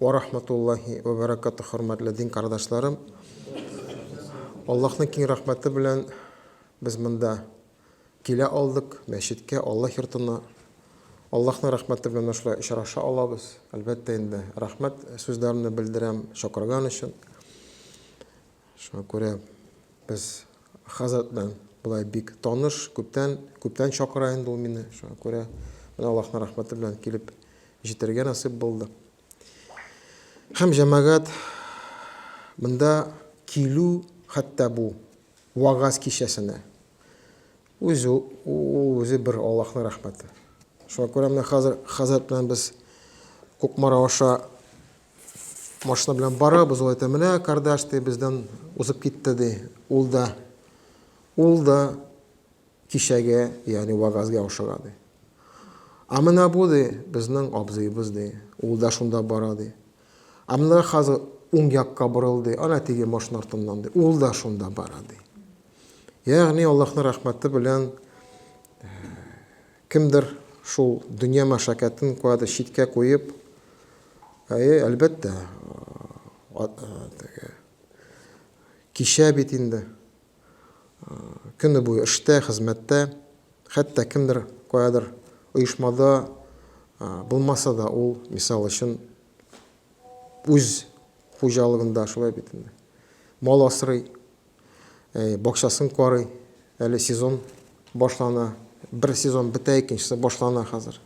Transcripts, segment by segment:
Вә рахматуллаһи вә бәрәкатүһ Хөрмәтле дин кардәшләрем! Аллаһның киң рәхмәте белән без монда килә алдык, мәчеткә, Аллаһ йортына. Аллаһның рәхмәте белән менә шулай очраша алабыз. Әлбәттә инде, рәхмәт сүзләремне белдерәм чакырган өчен. Шуңа күрә без хәзрәт белән болай бик таныш, күптән, күптән чакыра инде ул мине. Шуңа күрә менә Аллаһның рәхмәте белән килеп җитәргә насыйп булды. Һәм җәмәгать монда килү хәтта бу вагаз кичәсенә үзе үзе бер Аллаһның рәхмәте. Шуңа күрә менә хәзер хәзрәт белән без Кукмара аша Машина белән барабыз, ул әйтә, менә кардаш, ди, бездән узып китте, ди. Ул да, ул да кичәгә, ягъни вагазга ошыга, ди. А менә бу, ди, безнең абзыебыз, ди. Ул да шунда бара, ди. А менә хәзер уң якка борылды, ана теге машина артыннан, ди. Ул да шунда бара, ди. Ягъни Аллаһның рәхмәте белән Кемдер шул дөнья мәшәкатен куәде читкә куеп, әйе, әлбәттә, теге, кичә бит инде, көне буе эштә, хезмәттә, хәтта кемдер каядыр оешмада булмаса да, ул, мисал өчен, үз хуҗалыгында шулай бит инде, мал асрый. Бакчасын карый. Әле сезон башлана. Бер сезон бетә, икенчесе башлана хәзер.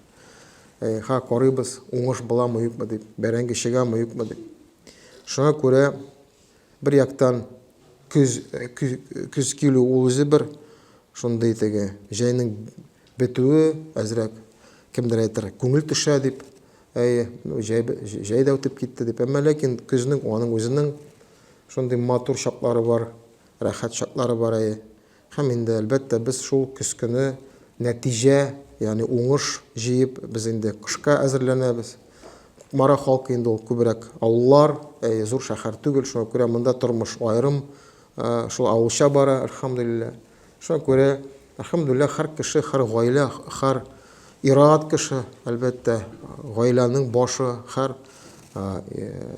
Ха, карыйбыз, уңыш буламы, юкмы дип, бәрәңге чыгамы, юкмы дип. Шуңа күрә бер яктан көз көз килү ул үзе бер шундый теге җәйнең бетүе әзрәк кемдер әйтер күңел төшә дип әйе җәй дә үтеп китте дип әмма ләкин көзнең аның үзенең Шундый матур чаклары бар, рәхәт чаклары бар әйе. Һәм инде, әлбәттә, без шул көзкене нәтиҗә, ягъни уңыш җыеп, без инде кышка әзерләнәбез. Кукмара халкы инде ул күбрәк авыллар, әйе, зур шәһәр түгел, шуңа күрә монда тормыш аерым шул авылча бара, әлхәмдүлилләһ. Шуңа күрә, әлхәмдүлилләһ, һәр кеше, һәр гаилә, һәр ир-ат кеше, әлбәттә, гаиләнең башы, һәр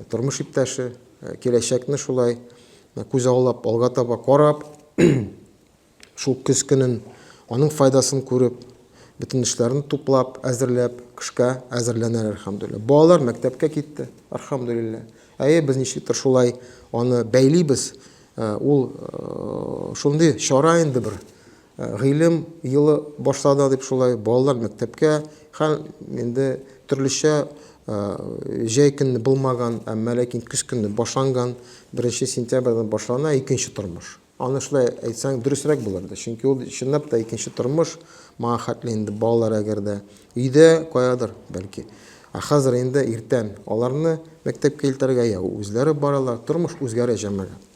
тормыш иптәше киләчәкне шулай күзаллап, алга таба карап, шул көз көнен аның файдасын күреп, бөтен эшләрен туплап, әзерләп, кышка әзерләнәләр, әлхәмдүлилләһ. Балалар мәктәпкә китте, әлхәмдүлилләһ. Әйе, без ничектер шулай аны бәйлибез. Ә, ул э, шундый чара инде бер. Ә, гыйлем елы башлады дип шулай балалар мәктәпкә һәм инде төрлечә ә, җәй көнне булмаган, әмма ләкин көз көнне башланган 1 сентябрьдән башлана икенче тормыш. Аны шулай әйтсәң дөресрәк булыр иде, чөнки ул чынлап та икенче тормыш, моңа хәтле инде балалар әгәр дә Өйдә каядыр, бәлки. Ә хәзер инде иртән. Аларны мәктәпкә илтәргә йә үзләре баралар, тормыш үзгәрә, җәмәгать.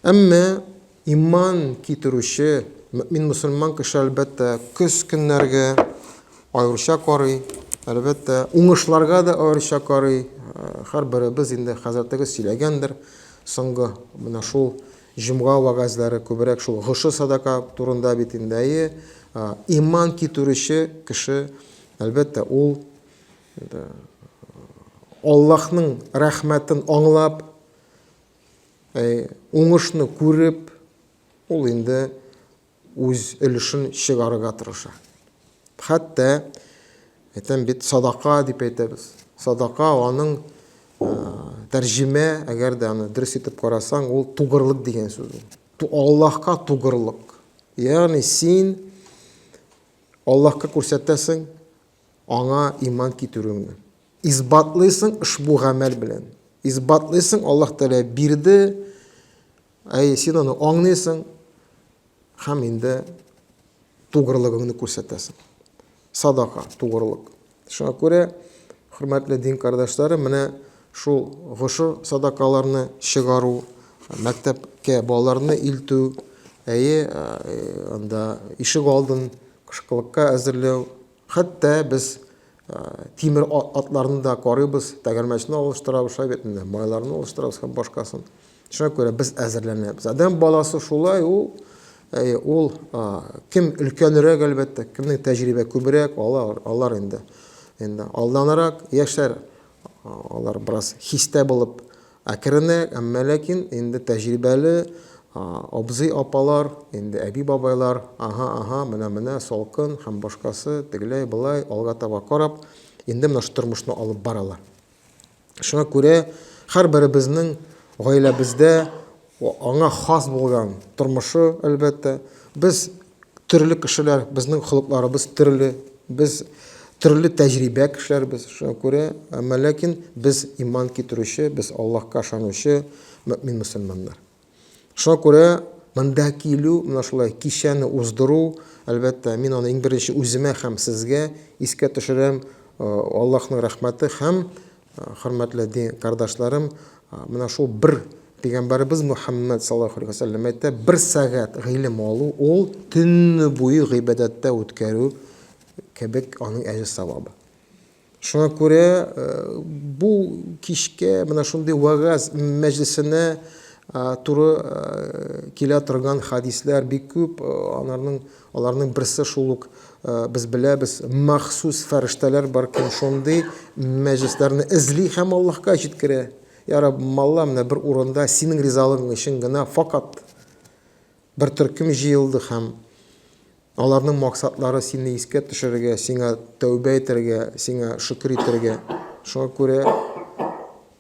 Әмма иман китерүче мөэмин-мөселман кеше, әлбәттә, көз көннәргә аеруча карый, әлбәттә, уңышларга да аеруча карый. Һәрберебез инде хәзрәтегез сөйләгәндер, соңгы менә шул Җомга вәгазьләре күбрәк шул гыше садака турында бит инде, әйе. Иман китерүче кеше, әлбәттә, ул Аллаһның рәхмәтен аңлап, уңышны күреп, ул инде үз өлешен чыгарырга тырыша. Хәтта, әйтәм бит, садака дип әйтәбез. Садака аның тәрҗемә, әгәр дә аны дөрес итеп карасаң, ул тугырлык дигән сүз. Аллаһка тугырлык. Ягъни син Аллаһка күрсәтәсең аңа иман китерүеңне. Исбатлыйсың ошбу гамәл белән. Исбатлыйсың, Аллаһ Тәгалә бирде, Әйе, син аны аңлыйсың һәм инде тугрылыгыңны күрсәтәсең. Садака, тугрылык. Шуңа күрә, хөрмәтле дин кардәшләре, менә шул гошер садакаларны чыгару, мәктәпкә балаларны илтү, әйе, анда ишек алдын кышкылыкка әзерләү, Хәтта без тимер атларны да карыйбыз, тәгәрмәчне алыштырабыз, шулай бит инде, майларны алыштырабыз һәм башкасын. Шуңа күрә без әзерләнәбез. Адәм баласы шулай ул, ул кем өлкәнрәк әлбәттә, кемнең тәҗрибә күбрәк, алар, алар инде. Инде алданрак яшәр, алар бераз хистә булып Әкренрәк, әмма ләкин инде тәҗрибәле абзый-апалар, инде әби-бабайлар, аһа, аһа, менә-менә салкын һәм башкасы, тегеләй-болай, алга таба карап, инде менә шул тормышны алып баралар. Шуңа күрә һәрберебезнең гаиләбездә Аңа хас булган тормышы, әлбәттә. Без төрле кешеләр, безнең холыкларыбыз төрле. Без төрле тәҗрибә кешеләрбез. Шуңа күрә, әмма ләкин без иман китерүче, без Аллаһка ышанучы мөэмин мөселманнар. Шуңа күрә монда килү, менә шулай кичәне уздыру, әлбәттә, мин аны иң беренче үземә һәм сезгә искә төшерәм, Аллаһның рәхмәте һәм Хөрмәтле дин кардашларым, менә шул бер Пәйгамбәребез Мөхәммәд саллаллаһу алейһи вәсәлләм әйтә, бер сәгать гыйлем алу ул төнне буе гыйбадәттә үткәрү кебек аның әҗер савабы. Шуңа күрә э, бу кичкә менә шундый вагаз мәҗлисенә туры э, килә торган хадисләр бик күп, э, аларның Аларның берсе шул ук, без беләбез, махсус фәрештәләр бар, кем шундый мәҗүсләрне эзли һәм Аллаһка җиткерә. Я Раб, малла менә бер урында синең ризалыгың өчен генә факат бер төркем җыелды һәм аларның максатлары сине искә төшерергә, сиңа тәүбә итәргә, сиңа шөкер итәргә. Шуңа күрә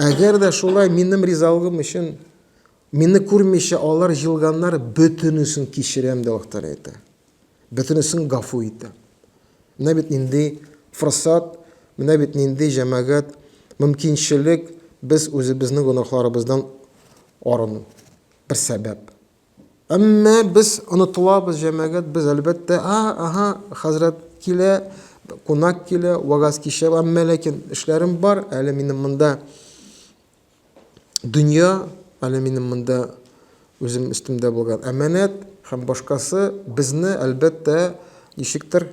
Әгәр дә шулай минем ризалыгым өчен мине күрмичә алар җылганнар, бөтенесен кичерәм, дип Аллаһтан әйтә. Бөтенесен гафу итә. Менә бит нинди форсат, менә бит нинди җәмәгать, мөмкинчелек без үзебезнең гөнаһларыбыздан арыну. Бер сәбәп. Әмма без онытылабыз, җәмәгать, без әлбәттә, а, аһа, хәзрәт килә, кунак килә, вагаз кичә, әмма ләкин эшләрем бар, әле минем монда дөнья, әле минем монда үзем өстемдә булган әманәт һәм башкасы безне әлбәттә ничектер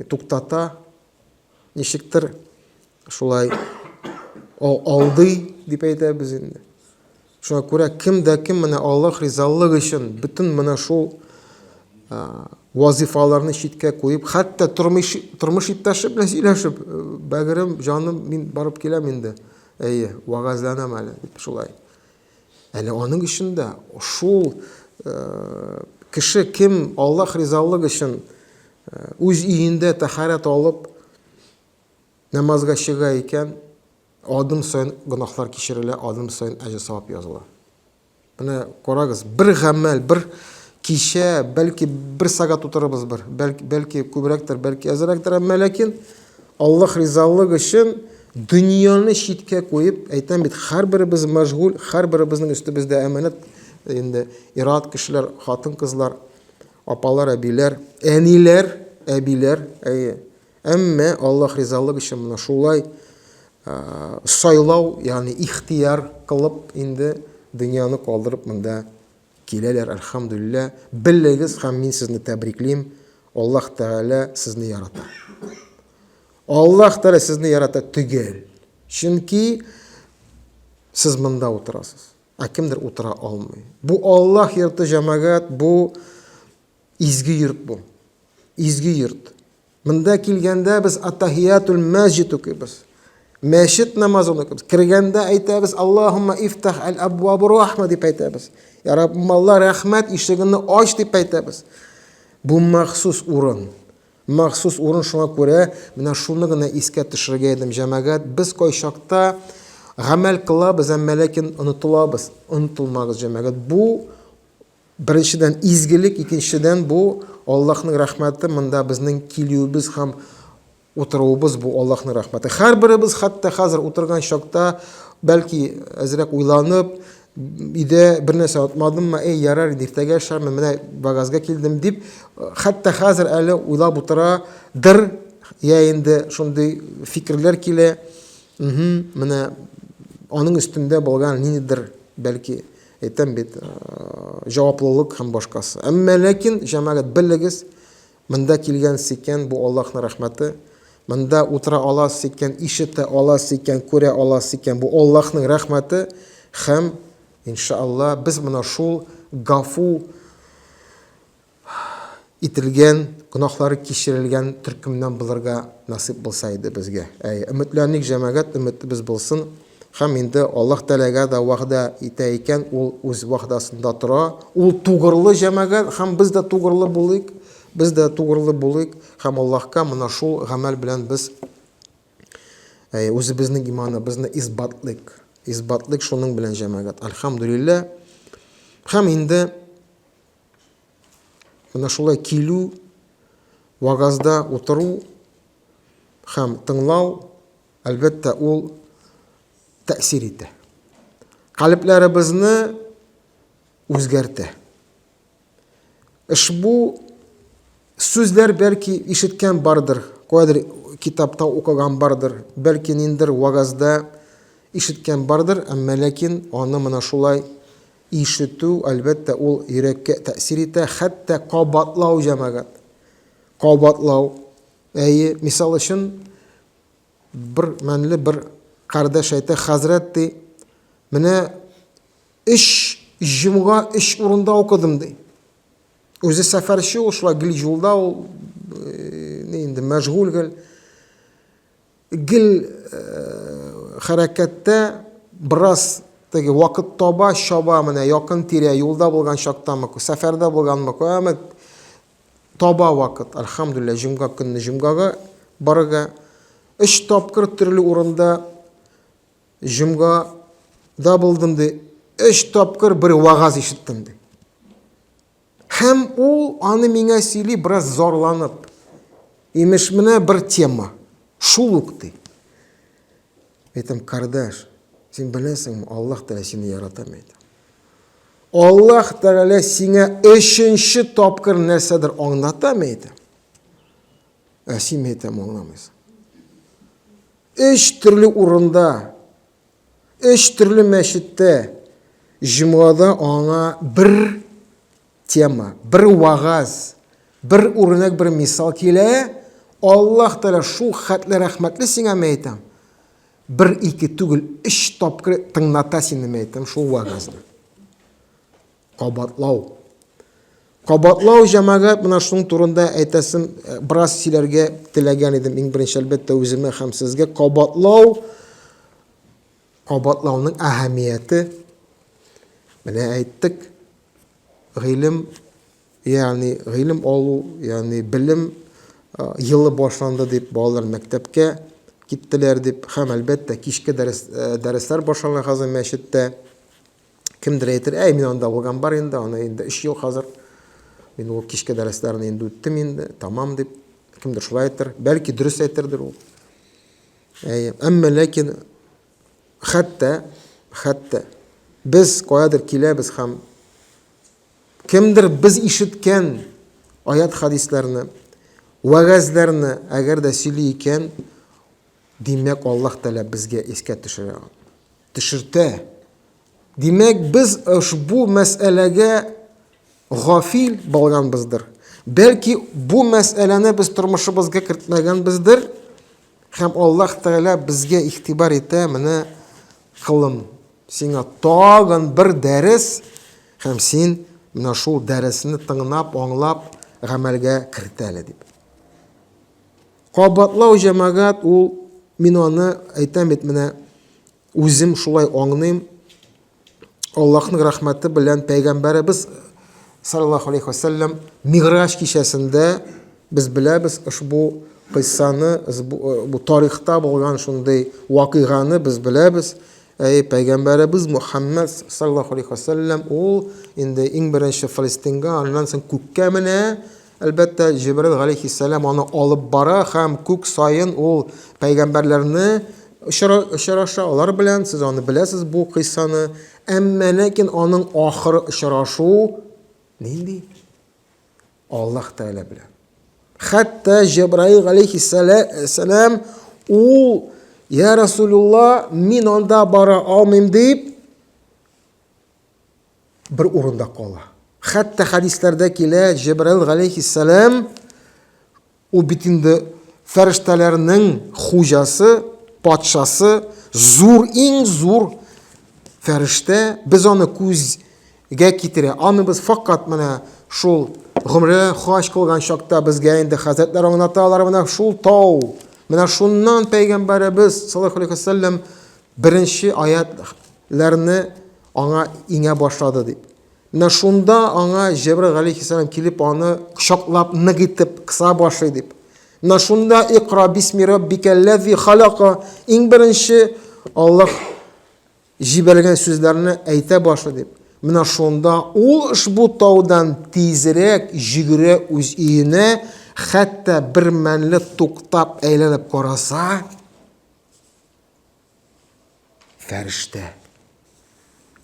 туктата, ничектер шулай алдый дип әйтәбез инде. Шуңа күрә кем дә кем менә Аллаһ ризалыгы өчен бөтен менә шул вазифаларны читкә куеп, хәтта тормыш тормыш иптәше белән сөйләшеп, бәгырем, җаным, мин барып киләм инде. Әйе, вагазланам әле, шулай. Әле аның өчен дә шул кеше кем Аллаһ ризалыгы өчен үз өендә тәхарәт алып намазга чыга икән, адым саен гөнаһлар кичерелә, адым саен әҗер савап языла. Менә карагыз, бер гамәл, бер кичә, бәлки бер сагат утырабыз бер, бәлки күбрәктер, бәлки әзрәктер, әмма ләкин Аллаһ ризалыгы өчен дөньяны читкә куеп, әйтәм бит, һәрберебез мәшгуль, һәрберебезнең өстебездә әманәт инде ират кешеләр, хатын-кызлар, апалар, әбиләр, әниләр, әбиләр, әйе. Әмма Аллаһ ризалыгы өчен менә шулай сайлау, ягъни ихтияр кылып инде дөньяны калдырып монда Киләләр, әлхәмдүлилләһ. Белегез һәм мин сезне тәбриклим. Аллаһ Тәгалә сезне ярата. Аллаһ Тәгалә сезне ярата төгәл. Чөнки сез монда утырасыз. Ә кемдер утыра алмый. Бу Аллаһ йорты җәмәгать, бу изге йорт бу. Изге йорт. Монда килгәндә без Атахиятул мәҗид укыйбыз. Мәчет намазын укыйбыз. Кергәндә әйтәбез, Аллаһумма ифтах әл абвабу рахма дип әйтәбез. Я Раббым Алла, рәхмәт ишегенне ач дип әйтәбез. Бу махсус урын. Махсус урын шуңа күрә менә шуны гына искә төшерергә идем, җәмәгать. Без кайчакта гамәл кылабыз, әмма ләкин онытылабыз. Онытылмагыз, җәмәгать. Бу Беренчедән, изгелек, икенчедән, бу, Аллаһның рәхмәте, монда безнең килүебез һәм утыруыбыз, бу, Аллаһның рәхмәте. Һәрберебез хәтта хәзер утырган чакта, бәлки, әзрәк уйланып, өйдә бер нәрсә отмадыммы, әй, ярар инде, иртәгә эшләрмен, менә Багазга килдем, дип, хәтта хәзер әле уйлап утыра дыр, я инде шундый фикерләр килә, менә аның өстендә булган ниндидер, бәлки, Әйтәм бит, э, җаваплылык һәм башкасы. Әмма ләкин, җәмәгать, белегез, монда килгән икән, бу Аллаһның рәхмәте. Монда утыра аласыз икән, ишетә аласыз икән, күрә аласыз икән, бу Аллаһның рәхмәте һәм иншалла без моны шул гафу ителгән, гөнаһлары кичерелгән төркемнән булырга насыйп булса иде безгә. Әй, өметләник, җәмәгать, өметебез булсын. Һәм инде Аллаһ Тәләгә дә вәгъдә итә икән, ул үз вәгъдәсендә тора. Ул тугрылы җәмәгать, һәм без дә тугрылы булыйк, без дә тугрылы булыйк, һәм Аллаһка менә шул гамәл белән без әй, үзебезнең иманыбызны исбатлыйк. Исбатлыйк шуның белән җәмәгать. Альхамдулилләһ. Һәм инде Менә шулай килү, вагазда утыру һәм тыңлау, әлбәттә, ул тәэсир итә. Калебләребезне үзгәртә. Ишбу сүзләр бәлки ишеткән бардыр, кадер китапта укыган бардыр, бәлки ниндер вагазда ишеткән бардыр, әмма ләкин аны менә шулай Ишетү, әлбәттә, ул йөрәккә тәэсир итә, хәтта кабатлау, җәмәгать. Кабатлау. Әйе, мисал өчен, бер мәнле бер кардәш әйтә, хәзрәт, ди, менә өч җомга өч урында укыдым, ди. Үзе сәфәрче ул, шулай гел юлда ул, э, инде мәшгуль гел. Гел хәрәкәттә бераз теге вакыт таба, чаба менә якын тирә юлда булган чактамы, сәфәрдә булганмы, әмма таба вакыт, альхамдулилла, җомга көнне җомгага барырга. Өч тапкыр төрле урында җомгада булдым ди. Өч тапкыр бер вагаз ишеттем ди. Һәм ул аны миңа сөйли, бераз зарланып. Имеш, менә бер тема. Шул ук ди. Әйтәм, кардаш, син беләсеңме, Аллаһ Тәгалә сине ярата бит. Аллаһ Тәгалә сиңа өченче тапкыр нәрсәдер аңлата бит. Ә син әйтәм аңламыйсың. Өч төрле урында Өч төрле мәчеттә җомгада аңа бер тема, бер вагаз, бер үрнәк, бер мисал килә. Аллаһ Тәгалә шул хәтле рәхмәтле сиңа мәйтәм. Бер ике түгел, өч тапкыр тыңната сине мәйтәм шул вагазны. Кабатлау. Кабатлау, җәмәгать, менә шуның турында әйтәсем, э, бераз сөйләргә теләгән идем, иң беренче, әлбәттә, үземә һәм сезгә. Кабатлау, кабатлауның әһәмияте, менә әйттек, гыйлем, ягъни гыйлем алу, ягъни белем елы башланды дип, балалар мәктәпкә киттеләр дип, һәм әлбәттә кичке дәрес, дәресләр башлана хәзер мәчеттә. Кемдер әйтер, әй, мин анда укыган бар инде, аны инде 3 ел хәзер. Мин ул кичке дәресләрне инде үттем инде, тамам дип. Кемдер шулай әйтер. Бәлки дөрес әйтердер ул. Әй, әмма ләкин хәтта хәтта без каядыр киләбез һәм кемдер без ишеткән аят хадисләрне, вәгазьләрне әгәр дә сөйли икән, Димәк, Аллаһ Тәгалә безгә искә төшерә, төшертә. Димәк, без ошбу мәсьәләгә гафил булганбыздыр. Бәлки, бу мәсьәләне без тормышыбызга кертмәгәнбездер, һәм Аллаһ Тәгалә безгә игътибар итә, менә кылым, сиңа тагын бер дәрес, һәм син менә шул дәресне тыңлап, аңлап, гамәлгә кертәле дип. Кабатлау җәмәгать ул, мин аны әйтәм бит менә, үзем шулай аңныйм, Аллаһның рәхмәте белән пәйгамбәребез саллаллаһу алейхи ва сәлләм Мигъраҗ кичәсендә без беләбез ошбу кыйссаны, бу тарихта булган шундый вакыйганы без беләбез. Әй, пәйгамбәребез Мухаммад саллаллаһу алейхи ва сәлләм ул инде иң беренче Фалестинга, аннан соң күккә менә, Әлбәттә, Җибраил галәйһиссәлам аны алып бара һәм күк саен ул пәйгамбәрләрне очра, очраша, алар белән, сез аны беләсез бу кыйссаны. Әмма ләкин аның ахыры очрашу нинди? Аллаһ Тәгалә белән. Хәтта Җибраил галәйһиссәлам ул, я Расулулла, мин анда бара алмыйм дип, бер урында кала. Хәтта хәдисләрдә килә, Җәбраил галәйһиссәлам ул бит инде фәрештәләрнең хуҗасы, патшасы, зур, иң зур фәрештә. Без аны күзгә китерә алмыйбыз. Факат менә шул гомрә хаҗ кылган чакта безгә инде хәзрәтләр аңлаталар, менә шул тау, менә шуннан пәйгамбәребез саллаллаһу алейхи вәсәлләм Беренче аять ләрне аңа иңә башлады дип. Менә шунда аңа Җәбрил галейхиссалам килеп аны кочаклап нык итеп кыса башлый дип. Менә шунда икра бисми раббикәлләзи халака иң беренче Аллаһ җибәргән сүзләрне әйтә башлый дип. Менә шунда ул ошбу таудан тизрәк җигерә үз өенә, хәтта бер мәнле туктап әйләнеп караса, Фәрештә.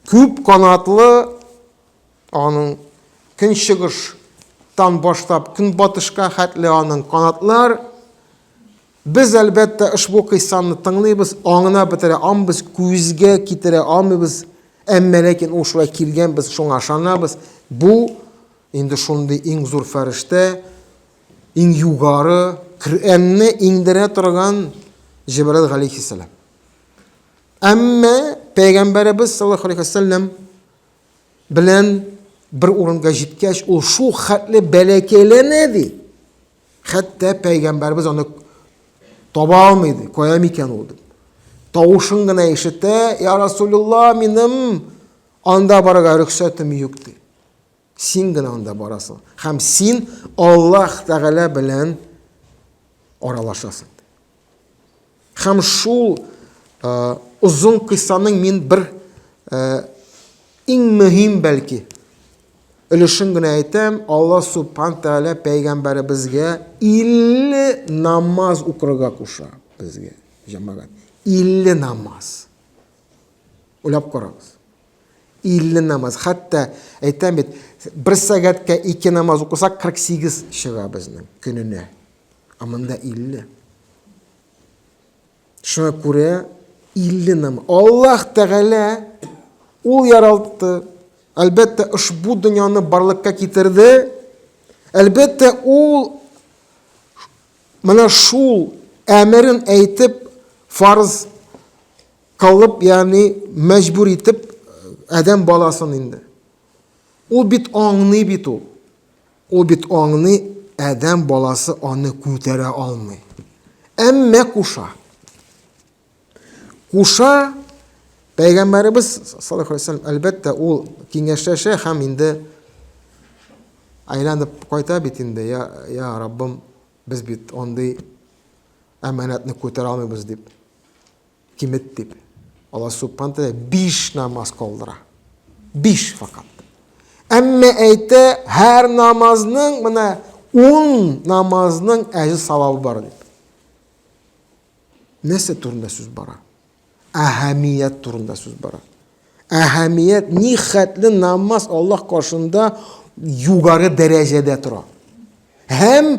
Күп канатлы аның көнчыгыштан башлап көнбатышка хәтле аның канатлар Без әлбәттә ошбу кыйссаны тыңлыйбыз, аңына бетерә амбыз, күзгә китерә амыбыз, әмма ләкин ул шулай килгән без шуңа ышанабыз. Бу Инде шундый иң зур фәрештә, иң югары Коръәнне иңдерә торган Җибраил галәйһиссәлам. Әмма пәйгамбәребез саллаллаху алейхи вәсәлләм белән бер урынга җиткәч, ул шул хәтле бәләкәйләнә ди. Хәтта пәйгамбәребез аны таба алмый ди, кая микән ул дип. Тавышын гына ишетә, "Я Расулулла, минем анда барырга рөхсәтем юк" ди. Син генә анда барасың. Һәм син Аллаһ Тәгалә белән аралашасың. Һәм шул э, озын кыйссаның мин бер э, иң мөһим бәлки өлешен генә әйтәм, Алла Субхан Тәгалә пәйгамбәребезгә 50 намаз укырга куша безгә, җәмәгать. 50 намаз. Уйлап карагыз. 50 намаз, хәтта әйтәм бит, бер сәгатькә ике намаз укысак 48 чыга безнең көненә. Ә монда 50. Шуңа күрә 50 намаз. Аллаһ Тәгалә ул яралтты. Әлбәттә, ошбу дөньяны барлыкка китерде. Әлбәттә, ул менә шул әмерен әйтеп фарз Кылып, ягъни мәҗбүр итеп адәм баласын инде. Ул бит аңный бит ул. Ул бит аңный, адәм баласы аны күтәрә алмый. Әмма куша. Куша Пәйгамбәребез саллаллаху алейһи вәсәлләм әлбәттә ул киңәшләшә һәм инде айланып кайта бит инде, я, я Раббым, без бит андый әманәтне күтәрә алмыйбыз дип. кимет дип, Аллаһ Субхану тәгалә биш намаз калдыра. Биш факат. Әмма әйтә, һәр намазның менә ун намазның әҗе савабы бар дип. Нәрсә турында сүз бара? Әһәмият турында сүз бара. Әһәмият ни хәтле намаз Аллаһ каршында югары дәрәҗәдә тора. Һәм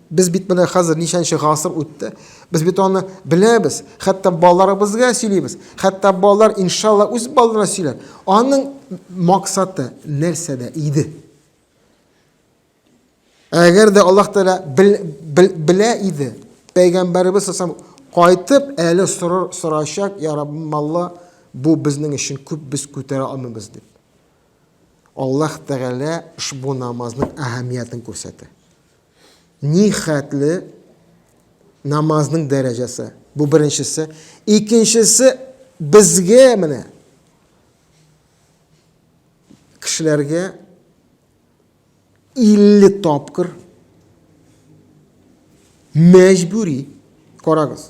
Без бит менә хәзер ничәнче гасыр үтте. Без бит аны беләбез. Хәтта балаларыбызга сөйлибез. Хәтта балалар иншалла үз балаларына сөйләр. Аның максаты нәрсәдә иде? Әгәр дә Аллаһ Тәгалә белә иде, пәйгамбәребез сасам кайтып әле сорашак, я Раббым Алла, бу безнең өчен күп без күтәрә алмыйбыз дип. Аллаһ Тәгалә ошбу намазның әһәмиятен күрсәтә. Нихәтле намазның дәрәҗәсе. Бу беренчесе. Икенчесе безгә менә кешеләргә 50 тапкыр мәҗбүри карагыз.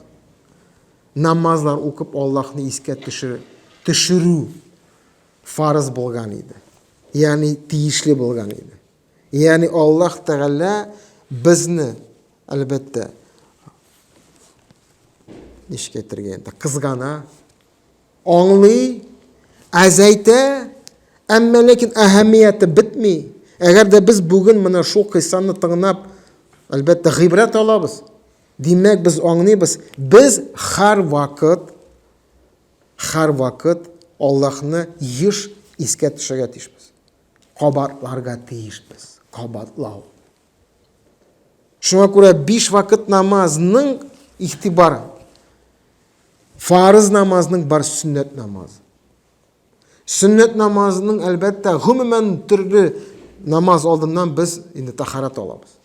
Намазлар укып Аллаһны искә төшерү, төшерү фарыз булган иде. Ягъни тиешле булган иде. Ягъни Аллаһ Тәгалә безне, әлбәттә, ничек әйтергә инде, кызгана, аңлый, әзәйтә, әмма ләкин әһәмияте бетми. Әгәр дә без бүген менә шул кыйссаны тыңлап, әлбәттә, гыйбрәт алабыз. Димәк, без аңлыйбыз, без һәр вакыт һәр вакыт Аллаһны еш искә төшерергә тиешбез. Кабатларга тиешбез, кабатлау. Шуңа күрә биш вакыт намазның ихтибар фарыз намазның бар сөннәт намазы. Сөннәт намазының әлбәттә гомумән төрле намаз алдыннан без инде тахарат алабыз.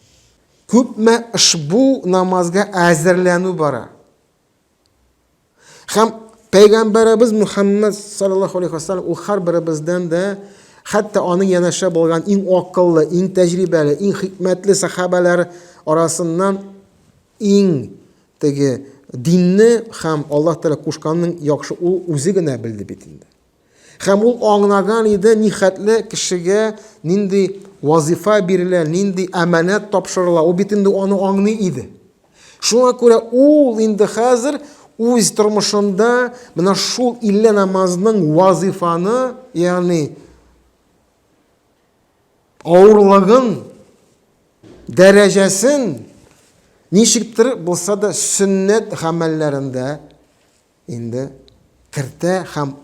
Күпме ошбу намазга әзерләнү бара. Хәм Пәйгамбәрәбез Мухаммад саллаллаху алейхи вассалам ул хар беребездән дә хәтта аның янәшә булган иң акыллы, иң тәҗрибәле, иң хикмәтле сахабәләр арасыннан иң теге динне хәм Аллаһ Тәгалә кушканның яхшы ул үзе генә белде бит инде. Һәм ул аңлаган иде, нихәтле кешегә нинди вазифа бирелә, нинди әманәт тапшырыла. Ул бит инде аны аңлый иде. Шуңа күрә ул инде хәзер үз тормышында менә шул 50 намазның вазифаны, ягъни авырлыгын, дәрәҗәсен ничектер булса да сөннәт гамәлләрендә Инде кертә һәм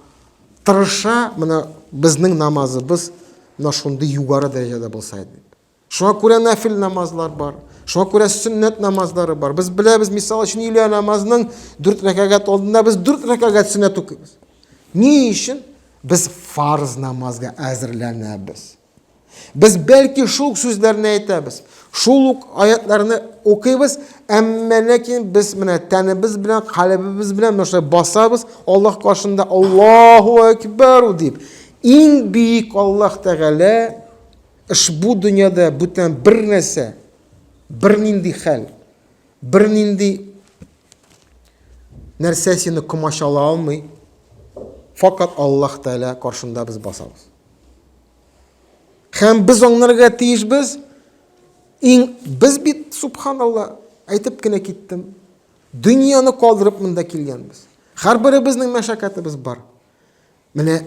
тырыша, менә безнең намазыбыз менә шундый югары дәрәҗәдә булса иде. Шуңа күрә нәфил намазлар бар, шуңа күрә сөннәт намазлары бар. Без беләбез, мисал өчен, илә намазның 4 рәкәгать алдында без 4 рәкәгать сөннәт укыйбыз. Ни өчен? Без фарз намазга әзерләнәбез. Без бәлки шул ук сүзләрне әйтәбез, шул ук аятларны укыйбыз, әмма ләкин без менә тәнебез белән, калебебез белән нәрсә басабыз, Аллаһ каршында Аллаһу акбар дип, иң бик Аллаһ Тәгалә ошбу дөньяда бүтән бер нәрсә, бер нинди хәл, бер нинди нәрсә сине комачала алмый. Факат Аллаһ Тәгалә каршында без басабыз. Һәм без аңларга тиешбез, иң без бит, субханалла, әйтеп кенә киттем, дөньяны калдырып монда килгәнбез. Һәрберебезнең мәшәкатебез бар. Менә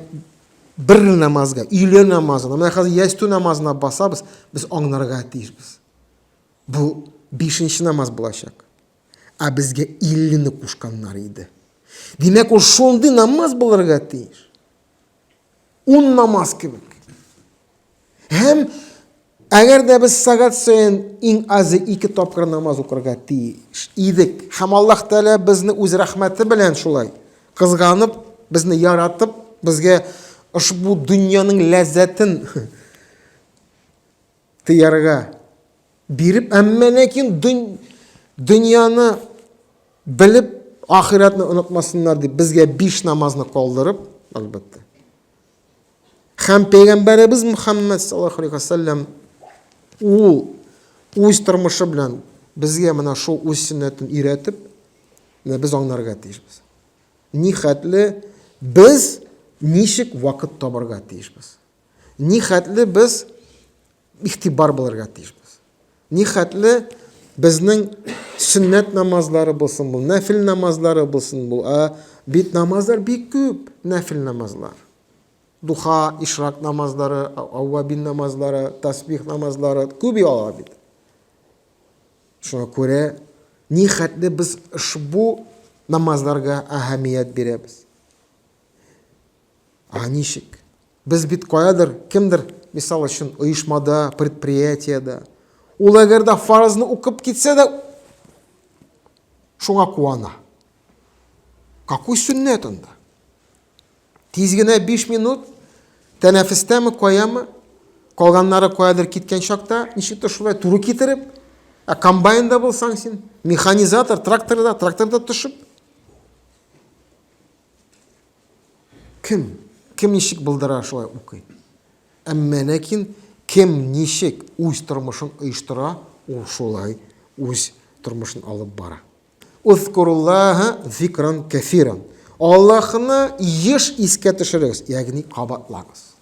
бер намазга, өйле намазына, менә хәзер ястү намазына басабыз, без аңларга тиешбез. Бу бишенче намаз булачак. Ә безгә 50-не кушканнар иде. Димәк, ул шундый намаз булырга тиеш. Уннамас кебек. Һәм әгәр дә без сәгать саен иң азы ике тапкыр намаз укырга тиеш идек. Һәм Аллаһ Тәгалә безне үз рәхмәте белән шулай кызганып, безне яратып, безгә ошбу дөньяның ләззәтен Тыярга биреп, әмма ләкин дөньяны белеп, ахирәтне онытмасыннар дип, безгә биш намазны калдырып, әлбәттә. Хәм пәйгамбәребез Мөхәммәд саллаллаху алейхи вассалам ул үз тормышы белән безгә менә шул үз сөннәтен өйрәтеп, менә без аңларга тиешбез. Ни хәтле без ничек вакыт табарга тиешбез. Ни хәтле без ихтибар булырга тиешбез. Ни хәтле безнең сөннәт намазлары булсын бу, нәфил намазлары булсын бу. Ә бит намазлар бик күп, нәфил намазлар. Духа, ишрак намазлары, аввабин намазлары, тасбих намазлары күп яла бит. Шуңа күрә ни хәтле без ошбу намазларга әһәмият бирәбез. Ә ничек? Без бит каядыр, кемдер, мисал өчен, оешмада, предприятиедә. Ул әгәр дә фарызны укып китсә дә, шуңа куана. Какой сөннәт анда? Тиз генә 5 минут тәнәфестәме, каямы? Калганнары каядыр киткән чакта, ничектер шулай туры китереп, ә комбайнда булсаң син, механизатор, тракторда, тракторда төшеп, Кем, кем ничек булдыра, шулай укый. Әмма ләкин кем ничек үз тормышын оештыра, ул шулай үз тормышын алып бара. Узкуруллаһа зикран кәфиран. Аллаһны еш искә төшерегез, ягъни кабатлагыз.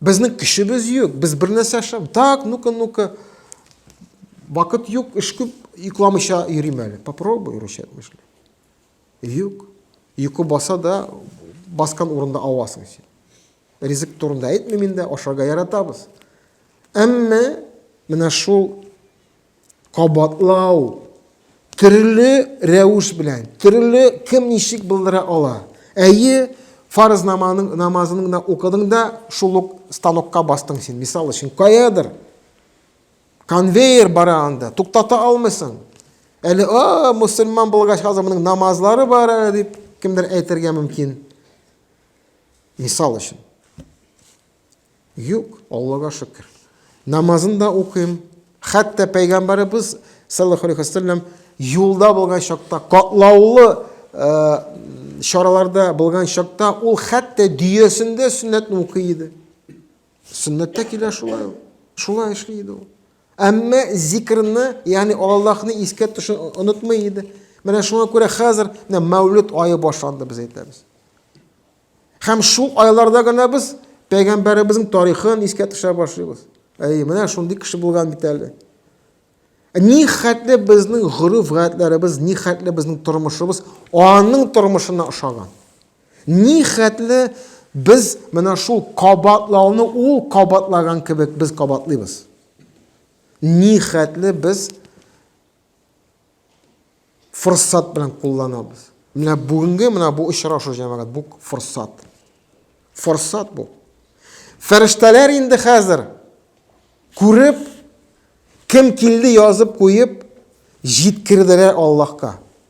Безнең көчебез юк, без бер нәрсә эшләп, так, ну-ка, ну-ка. Вакыт юк, эш күп, йокламыйча йөрим әле. Попробуй рычаг эшли. Юк. Йокы баса да, баскан урында авасың син. Ризык турында әйтмим инде, ашарга яратабыз. Әмма менә шул Кабатлау. Төрле рәвеш белән, төрле кем ничек булдыра ала. Әйе, фарыз намазының намазын гына укыдың да, шул ук станокка бастың син. Мисал өчен, каядыр конвейер бара анда, туктата алмыйсың. Әле, а, мусульман булгач, хәзер моның намазлары бар әле дип кемдер әйтергә мөмкин. Мисал өчен. Юк, Аллага шөкер. Намазын да укыйм. Хәтта пәйгамбәребез саллаллаху алейхи вәсәлләм юлда булган чакта, катлаулы э, чараларда булган чакта ул хәтта дөясендә сөннәтне укый иде. Сөннәттә килә шулай ул. Шулай эшли иде ул. Әмма зикрны, ягъни Аллаһны искә төшен онытмый иде. Менә шуңа күрә хәзер менә Мәүлид айы башланды, без әйтәбез. Һәм шул айларда гына без пәйгамбәребезнең тарихын искә төшә башлыйбыз. Әй, менә шундый кеше булган бит әле. Ә ни хәтле безнең гореф гадәтләребез, ни хәтле безнең тормышыбыз аның тормышына ошаган. Ни хәтле без менә шул кабатлауны ул кабатлаган кебек без кабатлыйбыз. Ни хәтле без форсат белән кулланабыз. Менә бүгенге менә бу очрашу җәмәгать, бу форсат. Форсат бу. Фәрештәләр инде хәзер күреп, кем килде язып куеп, җиткерделәр Аллаһка.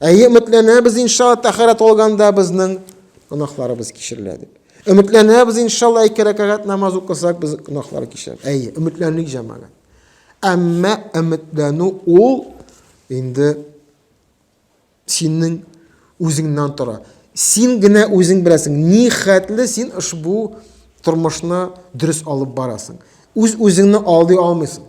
Әйе, өметләнәбез, иншалла, тәхәрәт алганда безнең гөнаһларыбыз кичерелә дип. Өметләнәбез, иншалла, ике рәкәгать намаз укысак, без гөнаһлар кичерәбез. Әйе, өметләнлек җәмәгать. Әмма өметләнү ул инде синең үзеңнән тора. Син генә үзең беләсең, ни хәтле син ошбу тормышны дөрес алып барасың. Үз үзеңне алдый алмыйсың.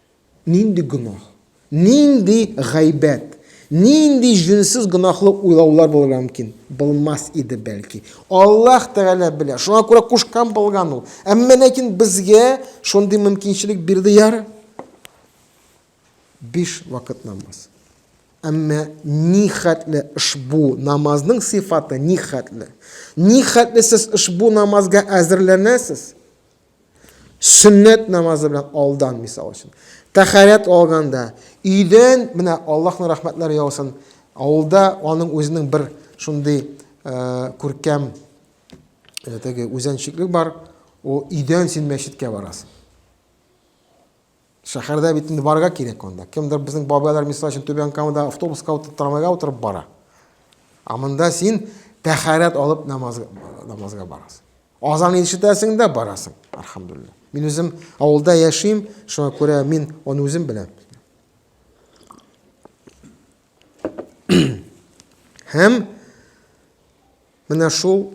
Нинди гөнаһ? Нинди гайбәт? Нинди җүнсез гөнаһлы уйлаулар булырга мөмкин? Булмас иде, бәлки. Аллаһ Тәгалә белә. Шуңа күрә кушкан булган ул. Әмма ләкин безгә шундый мөмкинчелек бирде яр. Биш вакыт намаз. Әмма ни хәтле ошбу намазның сыйфаты ни хәтле? Ни хәтле сез ошбу намазга әзерләнәсез? Сөннәт намазы белән алдан, мисал өчен. Тәхәрәт алганда, өйдән менә Аллаһның рәхмәтләре яусын. Авылда аның үзенең бер шундый э, күркәм э, теге үзенчеклек бар. Ул өйдән син мәчеткә барасың. Шәһәрдә бит инде барырга кирәк анда. Кемдер безнең бабайлар мисал өчен Түбән Камада автобуска утырып, трамвайга утырып бара. Ә монда син тәхәрәт алып намазга, намазга барасың. Азан ишетәсең дә барасың, альхамдулилла. Мин үзем авылда яшим, шуңа күрә мин аны үзем беләм. Һәм Менә шул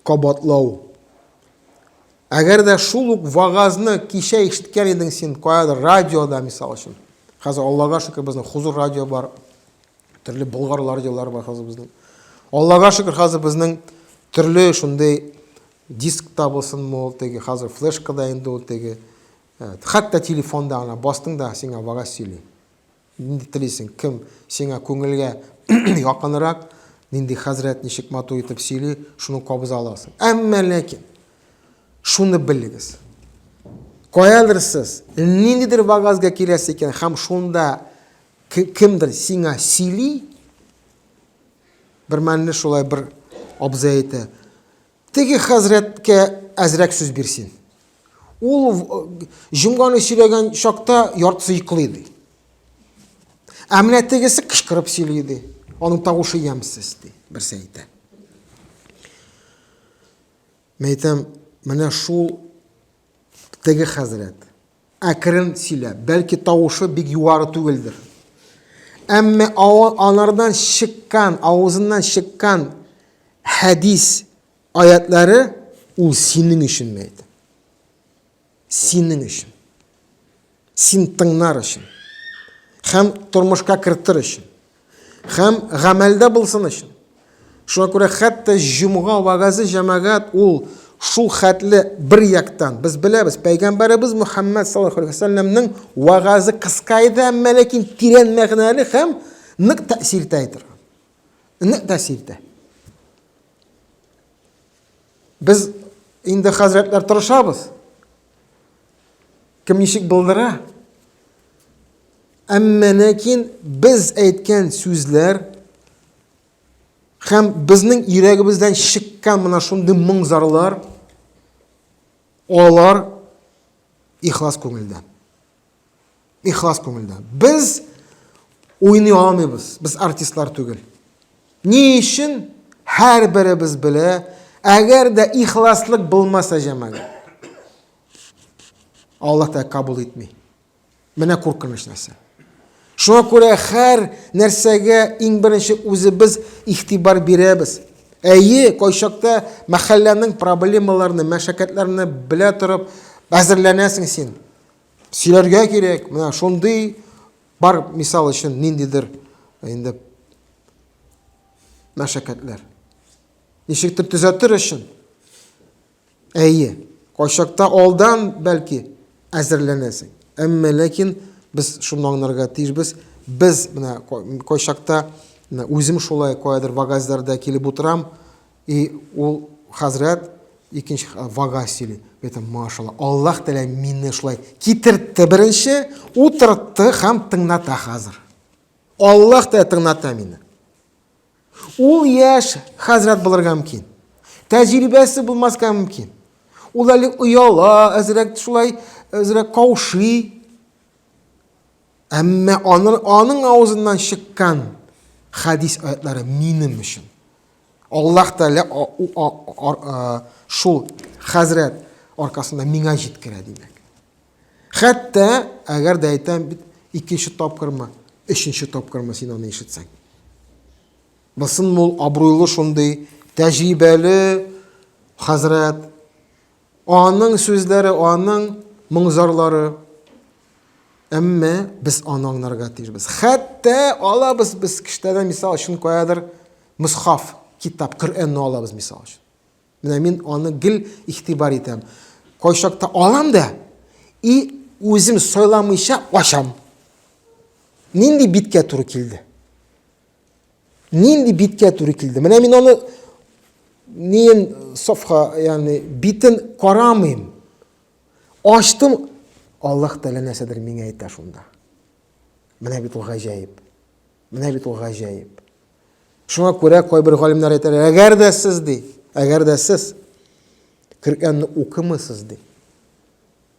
кабатлау. Әгәр дә шул ук вагазны кичә ишеткән идең син каядыр радиода, мисал өчен. Хәзер Аллага шөкер безнең Хузур радио бар. Төрле Болгар радиолары бар хәзер безнең. Аллага шөкер хәзер безнең төрле шундый диск та булсын мул теге хәзер флешка да инде ул теге. Хәтта телефонда ана бастың да сиңа вагаз сөйли. Нинди телисең, кем сиңа күңелгә якынрак, нинди хәзрәт ничек матур итеп сөйли, шуны кабыза аласың. Әмма ләкин шуны белегез. Каядыр сез ниндидер вагазга киләсе икән һәм шунда кемдер сиңа сөйли, бер мәлне шулай бер абзый әйтә, Теге хәзрәткә әзрәк сүз бирсен. Ул җомганы сөйләгән чакта яртысы йоклый ди. Ә менә тегесе кычкырып сөйли ди. Аның тавышы ямьсез ди, берсе әйтә. Мәйтәм, менә шул Теге хәзрәт, әкрен сөйләп, бәлки тавышы бик югары түгелдер. Әмма анардан чыккан, авызыннан чыккан хәдис аятлары ул синең өчен мәйт. Синең өчен. Син тыңнар өчен һәм тормышка кертер өчен һәм гамәлдә булсын өчен. Шуңа күрә хәтта җомга вәгазе җәмәгать ул шул хәтле бер яктан без беләбез, пәйгамбәребез Мөхәммәд саллаллаху алейһи вәсәлләмнең вәгазе кыска иде, әмма ләкин тирән мәгънәле һәм нык тәэсир итә торган. Нык тәэсир итә. Без инде хәзрәтләр тырышабыз. Кем ничек булдыра? Әмма ләкин без әйткән сүзләр һәм безнең йөрәгебездән чыккан менә шундый моң зарлар алар ихлас күңелдән. Ихлас күңелдән. Без уйный алмыйбыз. Без артистлар түгел. Ни өчен? Һәрберебез белә, әгәр дә ихласлык булмаса җәмәгать. Аллаһ та кабул итми. Менә куркыныч нәрсә. Шуңа күрә һәр нәрсәгә иң беренче үзебез ихтибар бирәбез. Әйе, кайчакта мәхәлләнең проблемаларны, мәшәкатьләрне белә торып әзерләнәсең син. сөйләргә кирәк, менә шундый бар мисал өчен ниндидер инде мәшәкатьләр. Ничектер төзәтер өчен. Әйе, кайчакта алдан бәлки әзерләнәсең. Әмма ләкин без шуны аңларга тиешбез. Без менә кайчакта үзем шулай каядыр вагазларда килеп утырам, И ул хәзрәт икенче вага сөйли. Бетем, машалла. Аллаһ Тәгалә мине шулай китертте беренче, утыртты һәм тыңната хәзер. Аллаһ Тәгалә тыңната мине. Ул яшь хәзрәт булырга мөмкин. Тәҗрибәсе булмаска мөмкин. Ул әле ояла, әзрәк шулай, әзрәк каушый. Әмма аны, аның авызыннан чыккан хадис аятлары минем өчен. Аллаһ Тәгалә шул хәзрәт аркасында миңа җиткерә димәк. Хәтта әгәр дә әйтәм бит, икенче тапкырмы, өченче тапкырмы син аны ишетсәң. Бысын мул абруйлы шундый тәҗрибәле хәзрәт Аның сүзләре, аның моңзарлары. Әмма без аны аңларга тиешбез. Хәтта алабыз без киштәдән мисал өчен каядыр мусхаф, китап, Коръәнне алабыз мисал өчен. Менә мин аны гел игътибар итәм. Кайчакта алам да и үзем сайламыйча ачам. Нинди биткә туры килде? Нинди биткә туры килде? Менә мин аны ниен сафха, ягъни битен карамыйм. Ачтым, Аллаһ Тәгалә нәрсәдер миңа әйтә шунда. Менә бит ул гаҗәеп. Менә бит ул гаҗәеп. Шуңа күрә кайбер галимнәр әйтәләр, әгәр дә сез ди, әгәр дә сез Коръәнне укымысыз ди.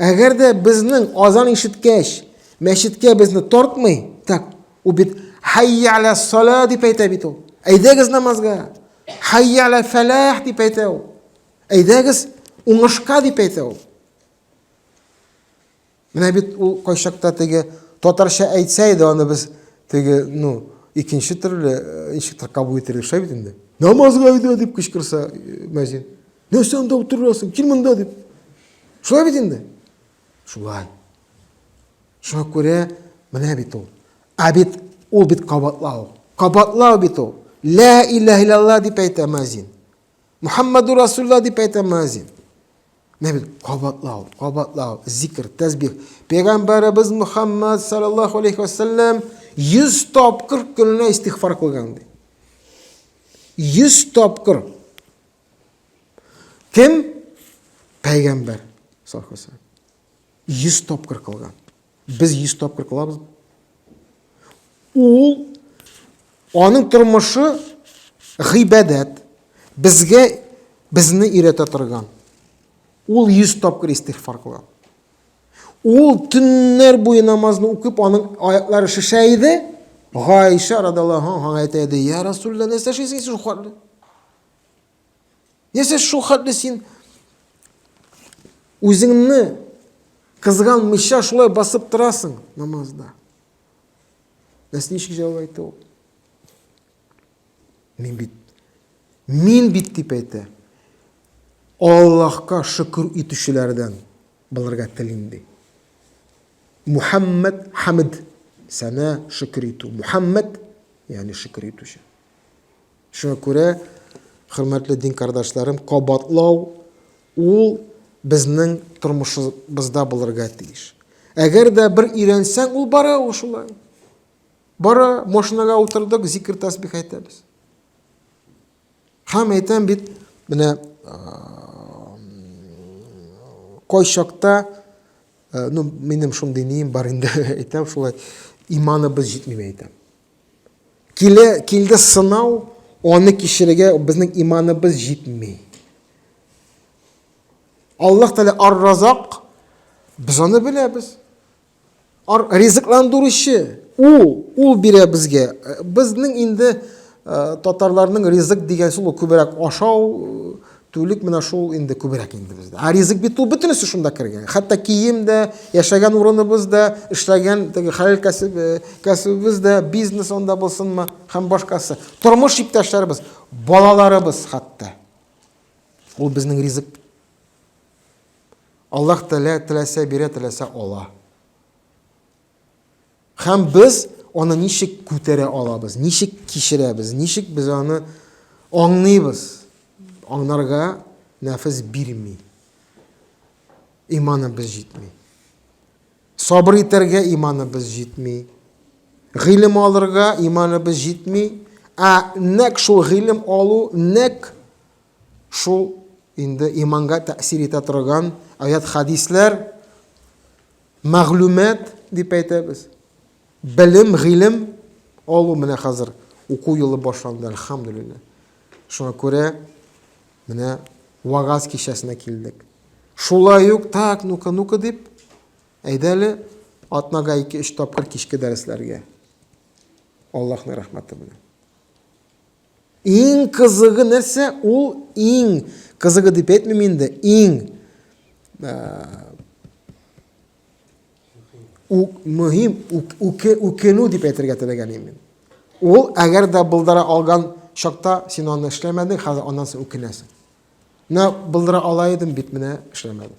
Әгәр дә безнең азан ишеткәч, мәчеткә безне тартмый, так, ул бит хайя аля сала дип әйтә бит ул. Әйдәгез намазга. Хайя аля фәләх дип әйтә ул. Әйдәгез уңышка дип әйтә ул. Менә бит ул кайчакта теге татарча әйтсә иде, аны без теге, ну, икенче төрле, ничектер кабул итәргә шәп инде. Намазга әйдә дип кычкырса мәзин. нәрсә анда утырасың кил монда дип шулай бит инде шулай шуңа күрә менә бит ул ә бит ул бит кабатлау кабатлау бит ул лә иләһ иллалла дип әйтә мөәзин мухаммаду расулла дип әйтә мөәзин менә бит кабатлау кабатлау зикр тәсбих пәйгамбәребез мухаммад саллаллаху алейхи вассалам йөз тапкыр көненә истигъфар кылган ди йөз тапкыр Кем? Пәйгамбәр саллаллаху алейхи Йөз тапкыр кылган. Без йөз тапкыр кылабыз. Ул аның тормышы гыйбадәт. Безгә безне өйрәтә торган. Ул йөз тапкыр истигъфар кылган. Ул төннәр буе намазны укып, аның аяклары шешә иде. Гайша радаллаху анһага әйтә иде: "Я Расулла, нәрсә эшлисең сез Яшә шул хәтле син үзеңне кызганмыйча шулай басып торасың намазда. Нәрсә ничек җавап әйтте ул? Мин бит мин бит дип әйтә. Аллаһка шөкер итүчеләрдән булырга телим ди. Мухаммад Хамид сәнә шөкер итү. Мухаммад, ягъни шөкер итүче. Шуңа күрә, хөрмәтле дин кардашларым, кабатлау ул безнең тормышыбызда булырга тиеш. Әгәр дә бер өйрәнсәң, ул бара ул шулай. Бара, машинага утырдык, зикр тәсбих әйтәбез. Һәм әйтәм бит, менә кайчакта, ну, минем шундый нием бар инде, әйтәм шулай, иманыбыз җитми, әйтәм. Килә, килде сынау, аны кичерергә безнең иманыбыз җитми. Аллаһ Тәгалә Ар-Разак, без аны беләбез. Ар ризыкландыручы, ул, ул бирә безгә. Безнең инде татарларның ризык дигән сүз күбрәк ашау, Түлек менә шул инде күбрәк инде бездә. Ә ризык бит ул бөтенесе шунда кергән. Хәтта кием дә, яшәгән урыныбыз да, эшләгән теге хәләл кәсеп, э, кәсебебез дә, бизнес анда булсынмы һәм башкасы. Тормыш иптәшләребез, балаларыбыз хәтта. Ул безнең ризык. Аллаһ Тәгалә теләсә бирә, теләсә ала. Һәм без аны ничек күтәрә алабыз, ничек кичерәбез, ничек без аны аңлыйбыз, аңнарга нәфес бирми. Иманыбыз җитми. Сабыр итәргә иманыбыз җитми. Гыйлем алырга иманыбыз җитми. Ә нәк шул гыйлем алу, нәк шул инде иманга тәэсир итә торган аят хадисләр Мәгълүмат дип әйтәбез. Белем, гыйлем алу менә хәзер уку елы башланды, әлхәмдүлилләһ. Шуңа күрә менә вагаз кичәсенә килдек. Шулай ук, так, ну-ка, ну-ка дип, әйдә әле атнага ике-өч тапкыр кичке дәресләргә. Аллаһның рәхмәте белән. Иң кызыгы нәрсә? Ул иң кызыгы дип әйтмим инде. Иң э, үк, мөһим үк, үке, үкенү дип әйтергә теләгән идем. Ул әгәр дә булдыра алган чакта син аны эшләмәдең, хәзер аннан соң үкенәсең. Менә булдыра ала идем бит, менә эшләмәдем.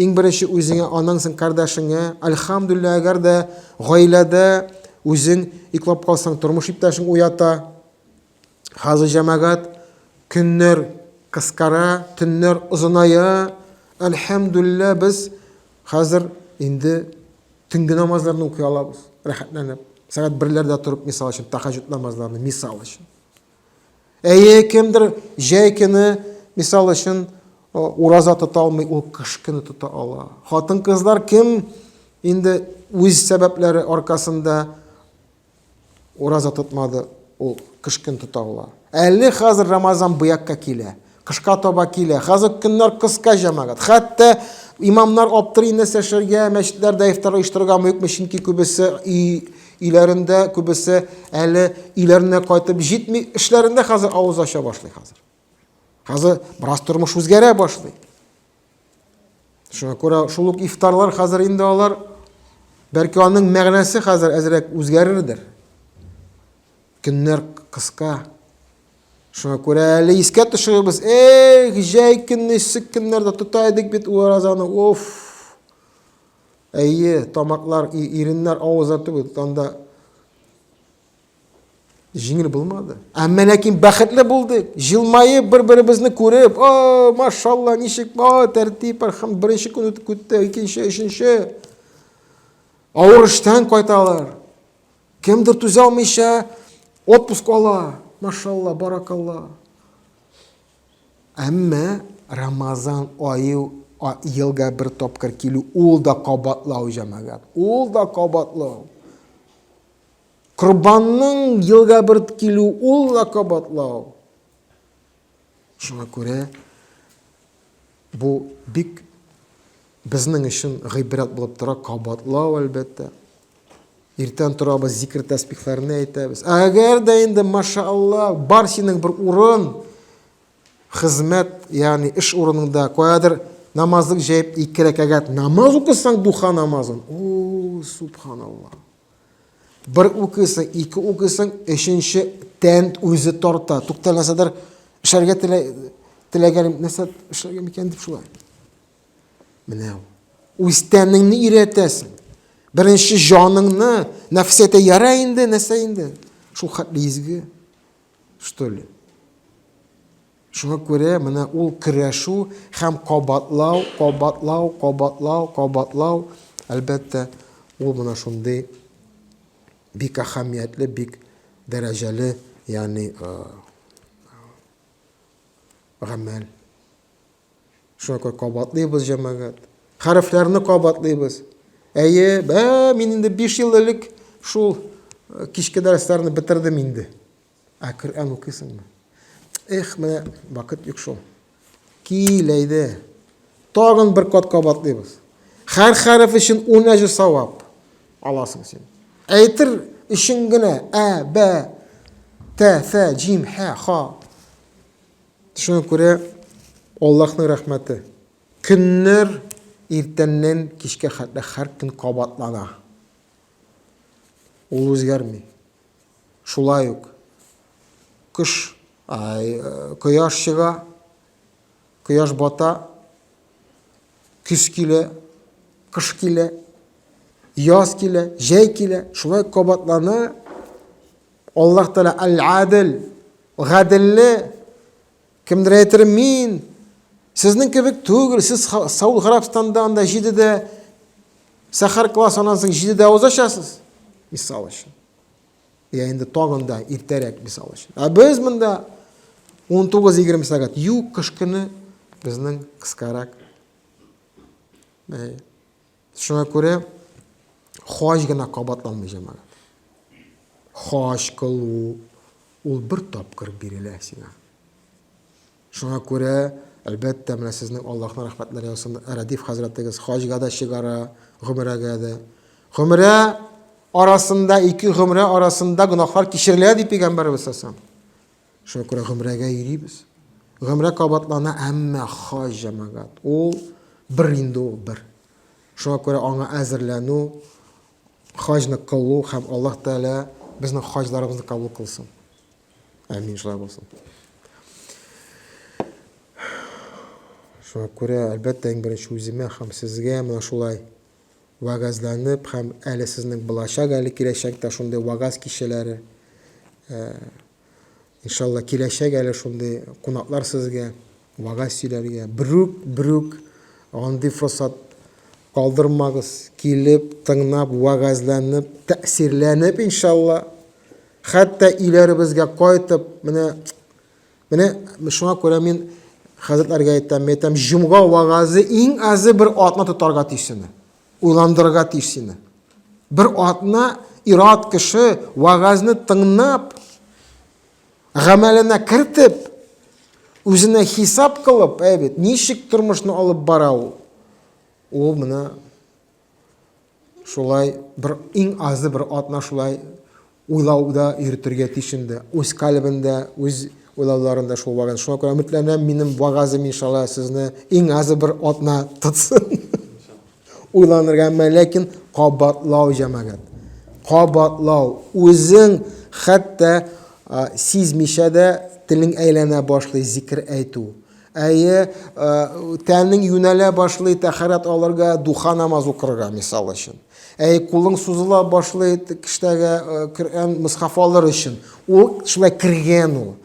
Иң беренче үзеңә, аннан соң кардәшеңә. Әлхәмдүлилләһ, әгәр дә гаиләдә үзең йоклап калсаң, тормыш иптәшең уята. Хәзер җәмәгать көннәр кыскара, төннәр озыная. Әлхәмдүлилләһ, без хәзер инде төнге намазларны укый алабыз, рәхәтләнеп. Сәгать берләрдә торып, мисал өчен, тәһаҗҗүд намазларны, мисал өчен. Әйе, кемдер җәй көне, мисал өчен, ураза тота алмый, ул кыш көне тота ала. Хатын-кызлар кем инде үз сәбәпләре аркасында ураза тотмады, ул кыш көн тота ала. Әле хәзер Рамазан бу якка килә. Кышка таба килә. Хәзер көннәр кыска, җәмәгать. Хәтта имамнар аптырый нәрсә эшләргә, мәчетләрдә ифтар оештырырга мөмкме, чөнки күбесе өйләрендә, күбесе әле өйләренә кайтып җитми, эшләрендә хәзер авыз ача башлый хәзер. Хәзер бераз тормыш үзгәрә башлый. Шуңа күрә шул ук ифтарлар хәзер инде алар бәлки аның мәгънәсе хәзер әзрәк үзгәрердер. Көннәр кыска. Шуңа күрә әле искә төшерәбез. Эх, җәй көнне, эссек көннәрдә тота идек бит уразаны. Оф! Әйе, тамаклар, иреннәр, авызлар түгел, анда Җиңел булмады. Әмма ләкин бәхетле булдык. Җылмаеп, бер-беребезне күреп, о, машалла, ничек, о, тәртип, архам, беренче көн үтеп китте, икенче, өченче. Авыр эштән кайталар. Кемдер түзә алмыйча отпуск ала. Машалла, баракалла. Әмма Рамазан айы елга бер тапкыр килү, ул да кабатлау, җәмәгать. Ул да кабатлау. Корбанның елга бырт килү ул да кабатлау. Шуңа күрә бу бик безнең өчен гыйбрәт булып тора, кабатлау әлбәттә. Иртән торабыз, зикр тәсбихләрне әйтәбез. Әгәр дә инде, машаалла, бар синең бер урын, хезмәт, ягъни эш урыныңда, каядыр намазлык җәеп ике рәкәгать намаз укысаң, духа намазын. О, субханалла. Бер укыйсың, ике укыйсың, өченче тән үзе тарта. Туктал нәрсәдер эшләргә теләгәнем, нәрсә эшләргә микән дип шулай. Менә ул. Үз тәнеңне өйрәтәсең. Беренче җаныңны, нәфсәтә яра инде, нәрсә инде? Шул хәтле изге, что ли? Шуңа күрә менә ул көрәшү һәм кабатлау, кабатлау, кабатлау, кабатлау, әлбәттә, ул менә шундый бик әһәмиятле, бик дәрәҗәле, ягъни гамәл. Шуңа күрә кабатлыйбыз, җәмәгать. Хәрефләрне кабатлыйбыз. Әйе, бә, мин инде биш ел элек шул кичке дәресләрне бетердем инде. Ә Коръән укыйсыңмы? Эх, менә вакыт юк шул. Кил, әйдә. Тагын бер кат кабатлыйбыз. Һәр хәреф өчен 10 әҗер савап аласың син. Әйтер өчен генә ә, б, т, ф, җим, һ, х. Шуңа күрә Аллаһның рәхмәте. Көннәр иртәннән кичкә хәтле һәр көн кабатлана. Ул үзгәрми. Шулай ук кыш кояш чыга, кояш бата, көз килә, кыш килә, яз килә, җәй килә. Шулай кабатлана Аллаһ Тәгалә Аль-Адил, гаделле. Кемдер әйтер, мин сезнең кебек түгел, сез Сауд Гарабстанда анда җидедә сәхәр класс аннан соң җидедә узачасыз. Мисал өчен. Я инде тагын да иртәрәк, мисал өчен. Ә без монда 19-20 сәгать. Юк, кыш көне безнең кыскарак. Шуңа күрә хаҗ гына кабатланмый җәмәгать. Хаҗ кылу ул бер тапкыр бирелә сиңа. Шуңа күрә, әлбәттә, менә сезнең Аллаһның рәхмәтләре яусын, Рәдиф хәзрәтегез хаҗга да чыгара, гомерәгә дә. Гомерә арасында, ике гомерә арасында гөнаһлар кичерелә, ди Пәйгамбәребез сасам. Шуңа күрә гомерәгә йөрибез. Гомерә кабатлана, әмма хаҗ җәмәгать. Ул бер инде ул бер. Шуңа күрә аңа әзерләнү, хаҗны кылу һәм Аллаһ Тәгалә безнең хаҗларыбызны кабул кылсын. Әмин шулай булсын. Шуңа күрә, әлбәттә, иң беренче үземә һәм сезгә менә шулай вагазланып һәм әле сезнең булачак, әле киләчәктә шундый вагаз кичәләре. Э, иншалла, киләчәк әле шундый кунаклар сезгә. Вәгазь сөйләргә берүк, берүк андый форсат калдырмагыз, килеп, тыңнап, вәгазьләнеп, тәэсирләнеп, иншалла, хәтта өйләребезгә кайтып, менә, менә шуңа күрә мин хәзрәтләргә әйтәм, мин әйтәм, җомга вәгазе иң азы бер атна тотарга тиеш сине, уйландырырга тиеш сине. Бер атна ират кеше вәгазьне тыңнап, гамәленә кертеп, үзенә хисап кылып, әйбит, ничек тормышны алып бара ул? Ул менә шулай бер иң азы бер атна шулай уйлауда йөртергә тиеш инде. Үз калебендә, үз уйлауларында шул вагын. Шуңа күрә өметләнәм, минем вагазым иншалла сезне иң азы бер атна тотсын. Уйланырга әмма ләкин кабатлау җәмәгать. Кабатлау. Үзең хәтта сизмичә дә телең әйләнә башлый зикер әйтү. Әйе, тәнең юнәлә башлый тәхәрәт алырга, духа намаз укырга, мисал өчен. Әйе, кулың сузыла башлый кештәгә Коръән мисхаф алыр өчен. Ул шулай кергән ул.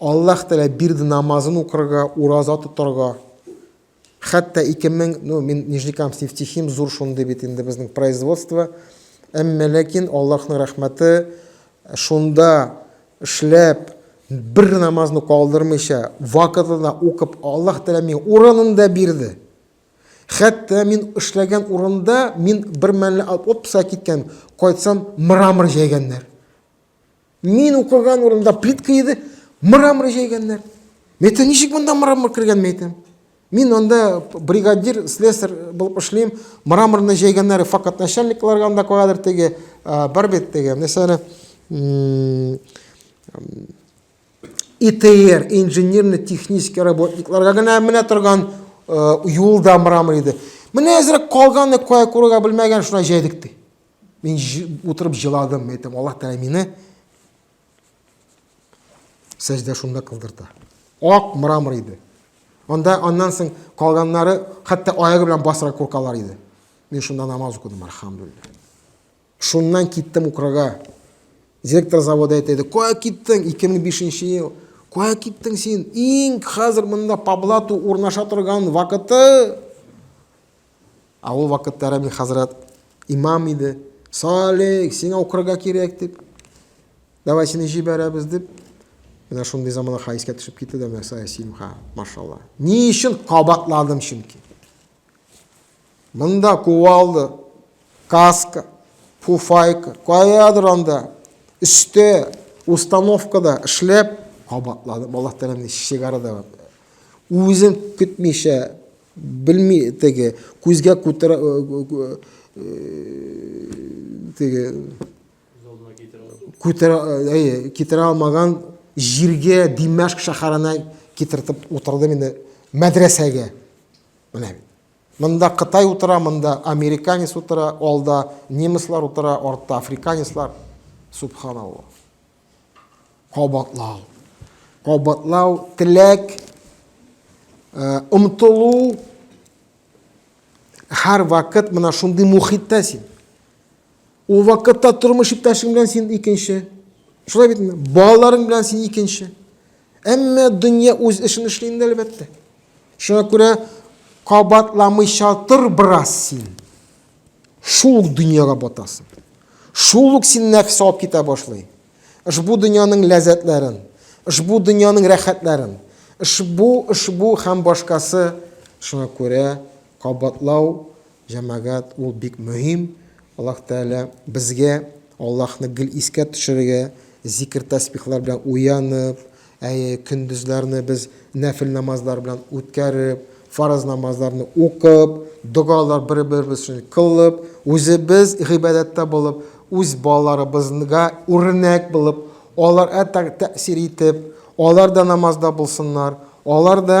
Аллаһ Тәгалә бирде намазын укырга, ураза тотарга. Хәтта 2000, ну, мин Нижникам Севтихим, зур шундый бит инде безнең производство. Әмма ләкин Аллаһның рәхмәте шунда эшләп, бер намазны калдырмыйча, вакытында укып, Аллаһ Тәгалә миңа урынында бирде. Хәтта мин эшләгән урында мин бер мәллә алып отпуска киткән, кайтсам мрамор җәйгәннәр. Мин укыган урында плитка иде, мрамор җәйгәннәр. Мен әйтәм, ничек монда мрамор кергән, мен әйтәм. Мин анда бригадир, слесарь булып эшлим. Мраморны җәйгәннәр факат начальникларга анда куядыр теге, бар бит теге, мәсәлән, ИТР, инженерно-технический работникларга гына менә торган юлда мрамор иде. Менә әзрәк калганы кая күрергә белмәгән, шуна җәйдек ди. Мин утырып җыладым, әйтәм, Аллаһ Тәгалә мине сәҗдә шунда кылдырта. Ак мрамор иде. Анда аннан соң калганнары хәтта аягы белән басырга куркалар иде. Мин шунда намаз укыдым, альхамдулилла. Шуннан киттем Украга. Директор завода әйтәде, кая киттең? 2005 ел. Кая киттең син? Иң хәзер монда Паблату урнаша торган вакыты. Ә ул вакытта Рәби хәзрәт имам иде. Салих, сиңа укырга кирәк дип. Давай сине җибәрәбез дип. Менә шундый замана хәйскә төшеп китте дә мәсәлә симха, машалла. Ни өчен кабатладым чөнки. Монда кувалды, каска, пуфайка, каядыр анда, өстә, установкада эшләп кабатладым. Аллаһ Тәгалә сигарада үзен көтмичә Белми теге, күзгә күтәрә, теге, күтәрә, әйе, китерә алмаган җиргә, Димәшк шәһәренә китертеп утырдым инде, мәдрәсәгә. Менә бит. Монда Кытай утыра, монда американец утыра, алда немецлар утыра, артта африканецлар. Субханаллаһ. Кабатлау. Кабатлау, теләк, омтылу, һәр вакыт мына шундый мухиттә син. Ул вакытта тормыш иптәшең белән син икенче. Шулай бит, балаларың белән син икенче. Әмма дөнья үз эшен эшли инде әлбәттә. Шуңа күрә кабатламыйча тор бераз син. Шул ук дөньяга батасың. Шул ук син нәфсе алып китә башлый. Ошбу дөньяның ләззәтләрен, ошбу дөньяның рәхәтләрен, ошбу, ошбу һәм башкасы. Шуңа күрә кабатлау, җәмәгать, ул бик мөһим. Аллаһ Тәгалә безгә Аллаһны гел искә төшерергә, зикер-тәсбихлар белән уянып, Әйе, көндезләрне без нәфел намазлар белән үткәреп, фарыз намазларны укып, догалар бер-беребез өчен кылып, үзебез гыйбадәттә булып, үз балаларыбызга үрнәк булып, алар әтәк тәэсир итеп, алар да намазда булсыннар, алар да